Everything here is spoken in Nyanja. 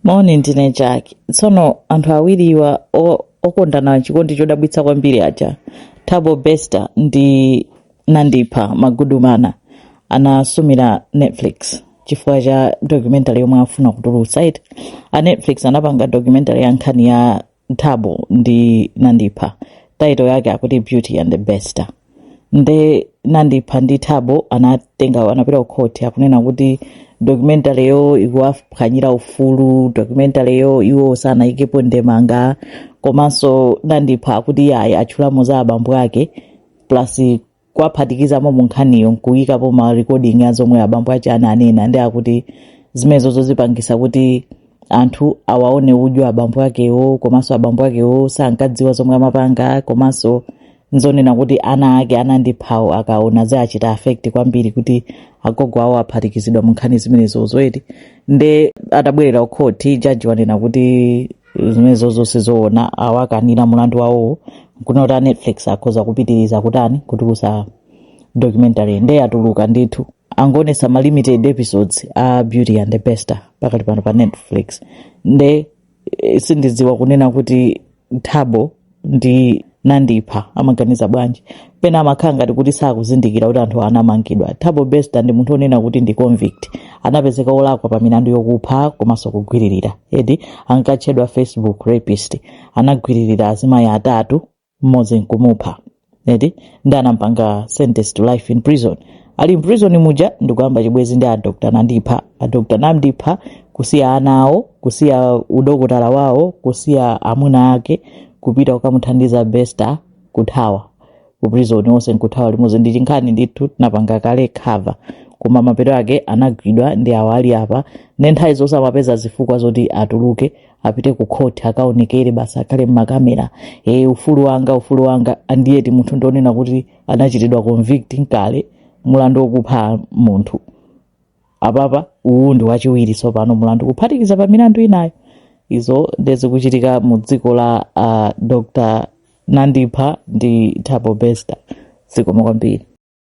moni ndine jack tsono anthu awiriwa o- okondana chikondi chodabwitsa kwambiri aja thabo bester ndi nandipha magudumana anasumira netflix chifukwa cha documentary yomwe afuna kutulutsa iti a netflix anapanga documentary ya nkhani ya thabo ndi nandipha taito yake akuti beauty and the bester nde nandipha ndi thabo anatenga anapita kukhoti akunena kuti documentary yo ikuwaphwanyira ufulu documentary yo iwo sanayikepo ndemanga komanso nandipha akuti yayi atchulamo za abambo ake plus kuwaphatikizamo mu nkhaniyo nkuyikapo ma recording a zomwe abambo aja ananena ndi akuti zimenezo zizipangisa kuti anthu awaone udyo abambo akewo komanso abambo akewo sankadziwa zomwe amapanga komanso nzonena kuti ana ake a nandiphawo akaona ziwachita affect kwambiri kuti agogo awo aphatikizidwa mu nkhani zimenezo eti nde atabwerera ukhoti jaji wanena kuti zimenezo zonse zo- ona awakanira mulandu wawowo kunena kuti a netflix akhoza kupitiriza kutani kutulusa documentary nde yatuluka ndithu angoonesa ma limited episodes a beauty and the bester pakati pano pa netflix nde eh, sindidziwa kunena kuti thabo ndi nandipha amaganiza bwanji pena amakhala ngati kuti sakuzindikira kuti anthu anamangidwa thabo bester ndi munthu onena kuti ndi convict anapezeka olakwa pa milandu yokupha komanso kugwiririra eti ankatchedwa facebook rapist anagwiririra azimayi atatu mmodzi nkumupha eti ndi anampanga sentence to life in prison ali in prison muja ndikuyamba chibwenzi ndi adokta nandipha adokta nandipha kusiya ana awo kusiya udokotala wawo kusiya amuna ake kupita kukamuthandiza bester kuthawa ku prison onse nkuthawa limodzi ndi chinkhani ndithu tinapanga kale cover koma mapeto ake anagwidwa ndi awo ali apa ndi nthawi zonse amapeza zifukwa zoti atuluke apite ku court akaonekere basi akhale mmakamera e ufulu wanga ufulu wanga and yet munthu ndi onena kuti anachitidwa convict kale mulandu wokupha munthu apapa uwu ndi wachiwiri tsopano mulandu kuphatikiza pa milandu inayo izo nde zikuchitika mu dziko la uh, dr nandipha ndi thabo bester zikomo kwambiri